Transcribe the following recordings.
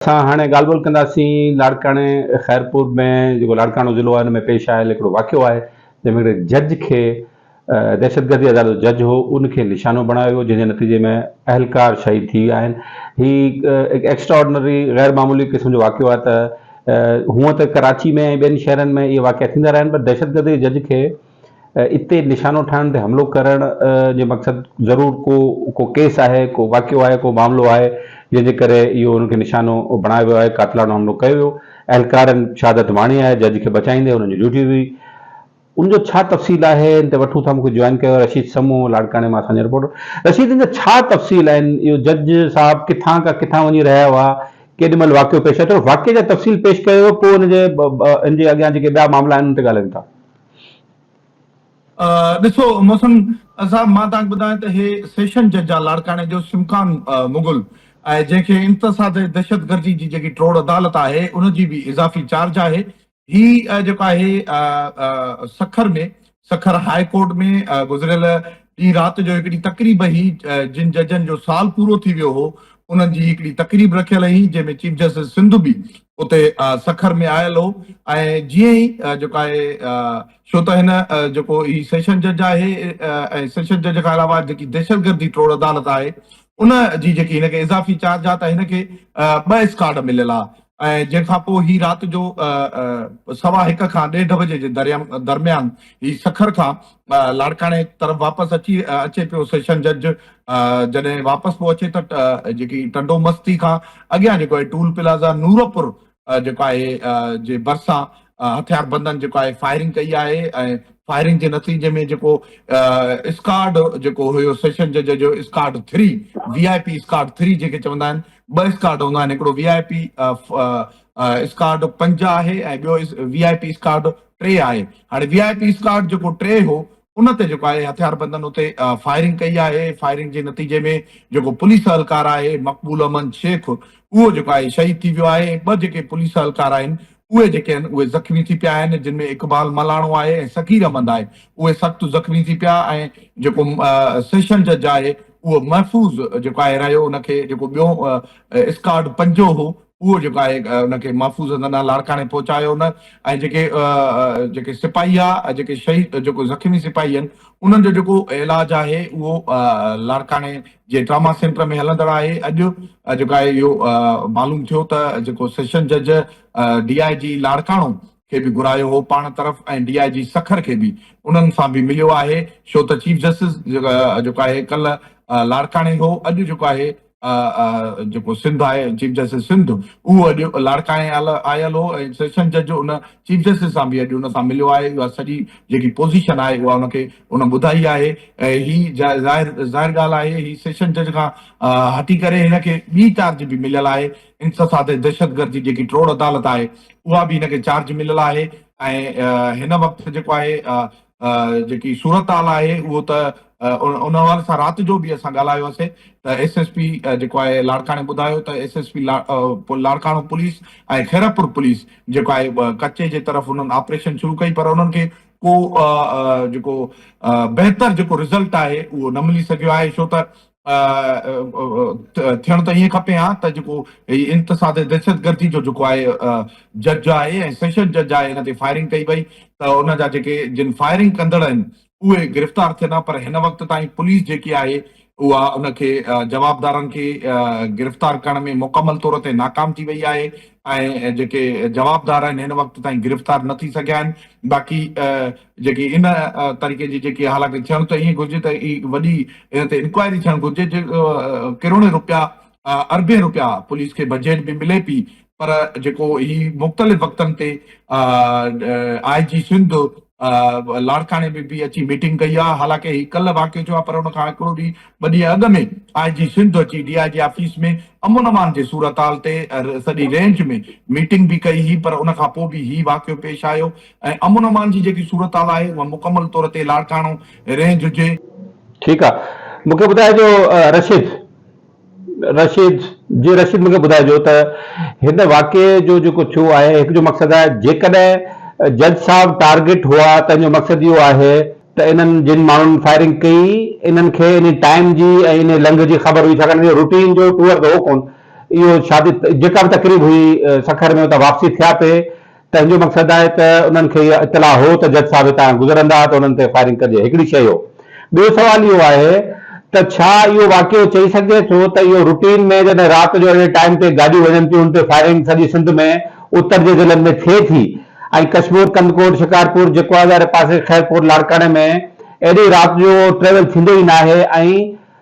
اسان هاڻي ڳالهه ٻولهه ڪنداسين لاڙڪاڻي خيرپور ۾ جيڪو لاڙڪاڻو ضلعو آهي ان ۾ پيش آيل هڪڙو واقعو آهي جنهن ۾ هڪڙي جج کي دهشتگردي عدالت جو جج هو ان کي نشانو بڻايو ويو جنهن جي نتيجي ۾ اهلڪار شهيد ٿي ويا آهن هي هڪ ايڪسٽرا آرڊنري غير معمولي قسم جو واقعو آهي ته هونئن ته ڪراچي ۾ ۽ ٻين شهرن ۾ اهي واقعا ٿيندا رهيا آهن پر دهشتگردي جي جج کي اتي نشانو ٺاهڻ تي حملو ڪرڻ جي مقصد ضرور ڪو ڪو ڪيس آهي، ڪو واقعو آهي، ڪو معاملو آهي، جنهن جي ڪري اهو انهن کي نشانو بڻايو ويو آهي، قاتلاڻو حملو ڪيو ويو، اهلڪارن شهادت ماڻي آهي، جج کي بچائيندي انهن جي ڊيوٽي هئي، ان جو ڇا تفصيل آهي ان تي وٺون ٿا، مون کي جوائن ڪيو آهي رشيد سمون لاڙڪاڻي مان اسان جا رپورٽر، رشيد ان جا ڇا تفصيل آهن، اهو جج صاحب ڪٿان کان ڪٿان وڃي رهيا هئا، ڪيڏي مهل واقعو پيش آيو، ٿورو واقعي جا تفصيل پيش ڪيو ويو پوء ان جي ان جي اڳيان جيڪي ٻيا معاملا آهن ان تي ڳالهايون ٿا. ڏسو محسن صاحب مان توهان کي ٻڌايان ته هي سيشن جج آ لاڙڪاڻي جو سمڪان مغل ۽ جنهن کي انتساب دهشت گردي جي جيڪي ٽوڙ عدالت آهي ان جي به اضافي چارج آهي هي جيڪو آهي سکر ۾ سکر هاء ڪورٽ ۾ گذريل ڏينهن رات جو هڪڙي تقريب هي جن ججن جو سال پورو ٿي ويو هو انهن جي هڪڙي تقريب رکيل هي جنهن ۾ چيف جسٽس سنڌ به اتي سکر ۾ آيل هو ۽ جيئن ئي جيڪو آهي ڇو ته هن جيڪو هي سيشن جج آهي ۽ سيشن جج کان علاوه جيڪي دهشتگردي ٽوڙ عدالت آهي ان جي جيڪي هن کي اضافي چارج آ ته هن کي ٻه اسڪارڊ مليل آ ۽ جنهن کان پوء هي رات جو سوا هڪ کان ڏيڍ بجي جي درميان هي سکر کان لاڙڪاڻي طرف واپس اچي اچي پيو سيشن جج جڏهن واپس پيو اچي ته جيڪي ٽنڊو مستي کان اڳيان جيڪو آهي ٽول پلازا نورپور جيڪو آهي جي ڀرسان هٿيار بندن جيڪو آهي فائرنگ ڪئي آهي ۽ فائرنگ جي نتيجي ۾ جيڪو اسڪارڊ جيڪو هيو سيشن جج جو squad three V I P squad three جيڪي چوندا آهن ٻه اسڪارڊ هوندا آهن هڪڙو وي آء پي اسڪارڊ پنج آهي ۽ ٻيو وي آء پي اسڪارڊ ٽي آهي هاڻي وي آء پي اسڪاٽ جيڪو ٽي هو ان تي جيڪو آهي هٿياربندن اتي فائرنگ ڪئي آهي فائرنگ جي نتيجي ۾ جيڪو پوليس اهلڪار آهي مقبول امن شيخ اهو جيڪو آهي شهيد ٿي ويو آهي ٻه جيڪي پوليس اهلڪار آهن اهي جيڪي آهن اهي زخمي ٿي پيا آهن جن ۾ اقبال ملاڻو آهي ۽ صغير احمد آهي اهي سخت زخمي ٿي پيا ۽ جيڪو سيشن جج آهي اهو محفوظ جيڪو آهي رهيو ان کي جيڪو ٻيو اسڪاٽ پنجو هو اهو جيڪو آهي ان کي محفوظ هنڌ ڏانهن لاڙڪاڻي پهچايو نه ۽ جيڪي جيڪي سپاهي آ جيڪي شهيد جيڪو زخمي سپاهي آهن انهن جو جيڪو علاج آهي اهو لاڙڪاڻي جي ٽراما سينٽر ۾ هلندڙ آهي اڄ جيڪو آهي اهو معلوم ٿيو ته جيڪو سيشن جج ڊي آء جي لاڙڪاڻو کي به گهرايو هو پاڻ طرف ۽ ڊي آء جي سکر کي به انهن سان به مليو آهي ڇو ته چيف جسٽس جيڪو آهي ڪلهه لاڙڪاڻي هو اڄ جيڪو آهي جيڪو سنڌ آهي چيف جسٽس سنڌ اهو اڄ لاڙڪاڻي آيل هو ۽ سيشن جج ان چيف جسٽس سان به اڄ ان سان مليو آهي اها سڄي جيڪي پوزيشن آهي اها ان کي ان ٻڌائي آهي هي ظاهر ظاهر ڳالهه آهي هي سيشن جج کان هٽي ڪري هن کي ٻي چارج به مليل آهي ان سزا تي دهشتگردي جيڪي ٽوڙ عدالت آهي اها به هن کي چارج مليل آهي ۽ هن وقت جيڪو آهي جيڪي صورتحال آهي اهو ته ان حوالي سان رات جو به اسان ڳالهايو هوسي ته ايس ايس پي جيڪو آهي لاڙڪاڻي ٻڌايو ته S S P Larkana police ۽ Khairpur police جيڪو آهي ڪچي جي طرف انهن آپريشن شروع ڪئي پر انهن کي ڪو جيڪو بهتر جيڪو رزلٽ آهي اهو نه ملي سگهيو آهي ڇو ته ٿيڻ ته ائين کپي ها ته جيڪو هي انتساب دهشتگردي جو جيڪو آهي جج آهي ۽ سيشن جج آهي هن تي فائرنگ ڪئي وئي ته ان جا جيڪي جن فائرنگ ڪندڙ آهن اهي گرفتار ٿين ها پر هن وقت تائين پوليس جيڪي آهي اها ان کي جوابدارن کي گرفتار ڪرڻ ۾ مڪمل طور تي ناڪام ٿي وئي آهي ۽ جيڪي جوابدار آهن هن وقت تائين گرفتار نه ٿي سگهيا آهن باقي جيڪي ان طريقي جي جيڪي حالانڪه ٿيڻ ته ائين گهرجي ته ئي وڏي ان تي انڪوائري ٿيڻ گهرجي جي ڪروڙين روپيا اربين روپيا پوليس کي بجيٽ به ملي پي پر جيڪو هي مختلف وقتن تي آء جي سنڌ لاڙڪاڻي ۾ به اچي ميٽنگ ڪئي آ حالانڪه هي ڪل واقعو ٿيو آ پر ان کان هڪڙو ڏينهن ٻه ڏينهن اڳ ۾ آء جي سنڌ اچي ڊي آء جي آفيس ۾ امن امان جي صورتحال تي سڄي رينج ۾ ميٽنگ به ڪئي هي پر ان کان پوء به هي واقعو پيش آيو ۽ امن امان جي جيڪي صورتحال آهي اها مڪمل طور تي لاڙڪاڻو رينج هجي. ٺيڪ آ مون کي ٻڌائجو رشيد رشيد جي رشيد مون کي ٻڌائجو ته هن واقعي جو جيڪو ٿيو آهي هڪ جو مقصد آهي جيڪڏهن جج صاحب ٽارگيٽ هئا تنهن جو مقصد اهو آهي ته انهن جن ماڻهن فائرنگ ڪئي انهن کي انهي ٽائيم جي ۽ انهي لنگهه جي خبر هئي ڇاڪاڻ جو روٽين جو ٽوئر ته هو ڪون اهو شادي جيڪا به تقريب هئي سکر ۾ اتان واپسي ٿيا پي تنهن جو مقصد آهي ته انهن کي اها اطلاع هو ته جج صاحب هتان گذرندا ته انهن تي فائرنگ ڪجي هڪڙي شيء هو. ٻيو سوال اهو آهي ته ڇا اهو واقعو چئي سگهجي ٿو ته اهو روٽين ۾ جڏهن رات جو اهڙي ٽائيم تي گاڏيون وڃن ٿيون ان تي فائرنگ سڄي سنڌ ۾ اتر جي ضلعن ۾ ٿئي ٿي ۽ ڪشمور ڪنڌڪوٽ شڪارپور جيڪوازاري پاسي خيرپور لاڙڪاڻي ۾ ايڏي رات جو ٽريول ٿيندو ئي ناهي ۽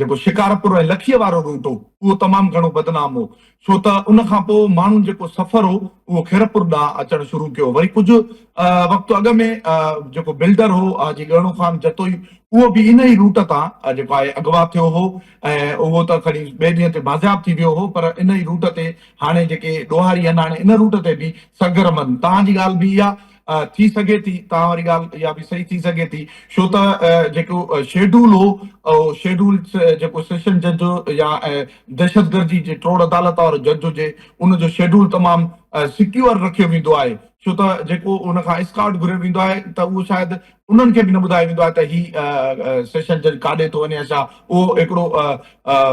جيڪو شڪارپور ۽ لکيء وارو روٽ هو، اهو تمام گهڻو بدنام هو، ڇو ته ان کان پوء ماڻهن جيڪو سفر هو، اهو خيرپور ڏانهن اچڻ شروع ڪيو. وري ڪجهه وقت اڳ ۾ جيڪو بلڊر هو، حاجي ڳهڻو خان جتوئي، اهو به ان ئي روٽ تان جيڪو آهي اغوا ٿيو هو ۽ اهو ته کڻي ٻئي ڏينهن تي بازياب ٿي ويو هو، پر ان ئي روٽ تي هاڻي جيڪي ڏوهاري هناڻي ان روٽ تي به سرگرم هن. توهان جي ڳالهه به اها. ٿي سگهي ٿي توهان واري ڳالهه اها به صحيح ٿي سگهي ٿي ڇو ته جيڪو شيڊول هو اهو شيڊول جيڪو سيشن جج يا دهشتگردي جي ٽوڙ عدالت وارو جج هجي ان جو شيڊول تمام سڪيور رکيو ويندو آهي ڇو ته جيڪو ان کان اسڪارٽ گهريو ويندو آهي ته اهو شايد انهن کي به نه ٻڌايو ويندو آهي ته هي سيشن جج ڪاڏي ٿو وڃي اشا اهو هڪڙو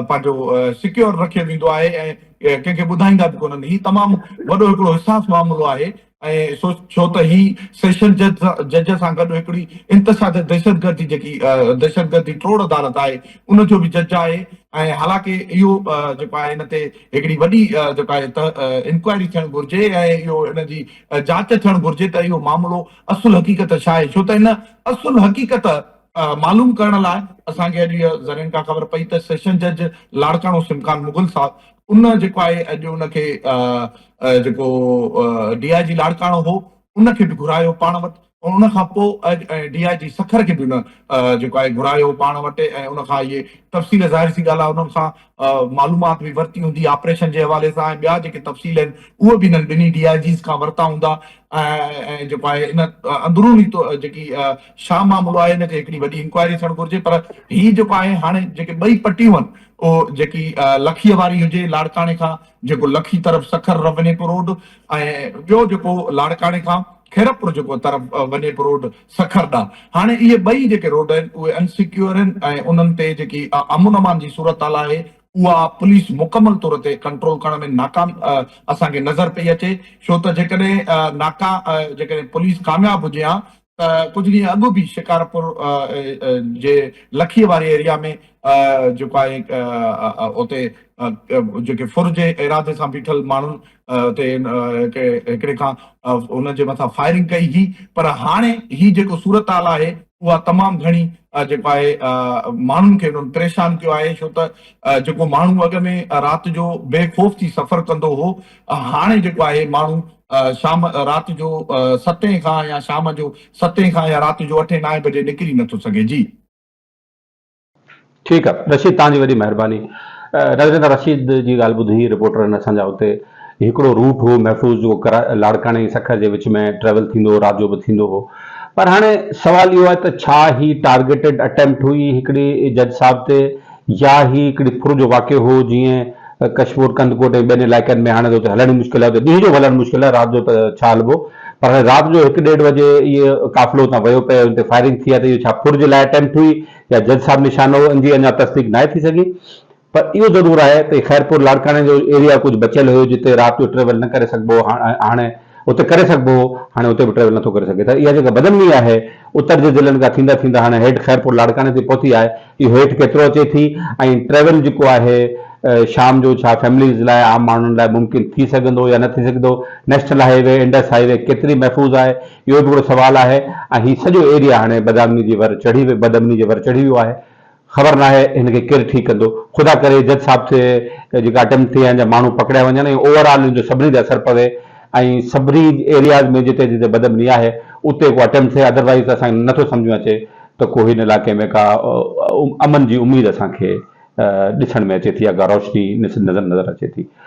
پنهنجو سڪيور رکيو ويندو آهي ۽ ڪنهن کي ٻڌائيندا به ڪونهن هي تمام وڏو هڪڙو حساس معاملو آهي ۽ سو ڇو ته هي سيشن جج جج سان گڏ هڪڙي انتشاد دهشتگردي جيڪي دهشتگردي ٽوڙ عدالت آهي ان جو به جج آهي ۽ حالانڪه اهو جيڪو آهي ان تي هڪڙي وڏي جيڪو آهي انڪوائري ٿيڻ گهرجي ۽ اهو ان جي جاچ ٿيڻ گهرجي ته اهو معاملو اصل حقيقت ڇا آهي ڇو ته ان اصل حقيقت معلوم ڪرڻ لاء اسان کي اڄ اها زرين ڪا خبر پئي ته سيشن جج لاڙڪاڻو سمڪان مغل صاحب ان جيڪو آهي اڄ ان کي جيڪو ڊي آء جي لاڙڪاڻو هو ان کي به گهرايو پاڻ وٽ ۽ ان کان پوء اڄ ڊي آء جي سکر کي به ان جيڪو آهي گهرايو پاڻ وٽ ۽ ان کان اهي تفصيل ظاهر سي ڳالهه آهي انهن سان معلومات به ورتي هوندي آپريشن جي حوالي سان ۽ ٻيا جيڪي تفصيل آهن اهي به هنن ٻنهي ڊي آء جيز کان ورتا هوندا ۽ جيڪو آهي ان اندروني جيڪي شاهه معاملو آهي ان تي هڪڙي وڏي انڪوائري ٿيڻ گهرجي پر هي جيڪو آهي هاڻي جيڪي ٻئي پٽيون آهن اهو جيڪي لکيء واري هجي لاڙڪاڻي کان جيڪو لکي طرف سکر رونيپ روڊ ۽ ٻيو جيڪو لاڙڪاڻي کان خيرپور جيڪو طرف ونيپ روڊ سکر ڏانهن. هاڻي اهي ٻئي جيڪي روڊ آهن اهي ان سيڪيور آهن ۽ انهن تي جيڪي امن امان جي صورتحال آهي اها پوليس مڪمل طور تي ڪنٽرول ڪرڻ ۾ ناڪام اسان کي نظر پئي اچي ڇو ته جيڪڏهن ناڪا جيڪڏهن پوليس ڪامياب هجي ها ته ڪجهه ڏينهن اڳ به شڪارپور جي لکيء واري ايريا ۾ جيڪو آهي اتي جيڪي ڦر جي ارادي سان بيٺل ماڻهن تي هڪڙي کان ان جي مٿان فائرنگ ڪئي هئي پر هاڻي هي جيڪو صورتحال آهي اها تمام گهڻي جيڪو آهي ماڻهن کي انهن پريشان ڪيو آهي ڇو ته جيڪو ماڻهو اڳ ۾ رات جو بي خوف ٿي سفر ڪندو هو هاڻي جيڪو آهي ماڻهو شام رات جو ستين کان يا شام جو ستين کان يا رات جو اٺين نائين بجي نڪري نٿو سگهي جي ٺيڪ آ رشيد توهان جي وڏي مهرباني. راجندر رشيد جي ڳالهه ٻڌي رپورٽرن اسان جا اتي هڪڙو روٽ هو محفوظ جيڪو ڪرا لاڙڪاڻي ۽ سکر جي وچ ۾ ٽريول ٿيندو هو رات جو به ٿيندو هو پر هاڻي سوال اهو آهي ته ڇا هي ٽارگيٽيڊ اٽيمپٽ هئي هڪڙي جج صاحب تي يا هي هڪڙي ڦر جو واقعو هو جيئن ڪشمور، ڪنڌڪوٽ ۽ ٻين علائقن ۾ هاڻي ته اتي هلڻ ئي مشڪل آهي. اتي ڏينهن جو به هلڻ مشڪل آهي، رات جو ته ڇا هلبو. پر هاڻي رات جو هڪ ڏيڍ بجي اهي قافلو اتان ويو پئي ان تي فائرنگ ٿي آهي ته اهو ڇا ڦر جي لاء اٽيمپٽ هئي يا جج صاحب نشانو هو ان جي اڃا تصديق ناهي ٿي سگهي. پر اهو ضرور آهي ته خيرپور لاڙڪاڻي جو ايريا ڪجهه بچيل هيو جتي رات جو ٽريول نه ڪري سگهبو هو. هاڻي اتي ڪري سگهبو هو، هاڻي اتي به ٽريول نٿو ڪري سگهي ته اها جيڪا بدنمي آهي، اتر جي ضلعن کان ٿيندا ٿيندا هاڻي هيٺ خيرپور لاڙڪاڻي تائين پهتي آهي، اهو هيٺ ڪيترو اچي ٿي ۽ ٽريول جيڪو آهي شام جو ڇا فيمليز لاء عام ماڻهن لاء ممڪن ٿي سگهندو يا نه ٿي سگهندو، national highway, Indus highway ڪيتري محفوظ آهي، اهو به هڪڙو سوال آهي ۽ هي سڄو ايريا هاڻي بدامني جي ور چڙهي بدامني جي ور چڙهي ويو آهي. خبر ناهي هن کي ڪير ٺيڪ ڪندو. خدا ڪري جج صاحب تي جيڪا اٽيمپٽ ٿئي ۽ جا ماڻهو پڪڙيا وڃن ۽ اوور آل ان جو سڀني تي اثر پوي ۽ سڀني ايرياز ۾ جتي جتي بد امني آهي اتي ڪو اٽيمپٽ ٿئي ادروائيز ته اسان کي نٿو سمجهه ۾ اچي ته ڪو هن علائقي ۾ ڪا امن جي اميد اسان کي ڏسڻ ۾ اچي ٿي يا ڪا روشني نظر اچي ٿي.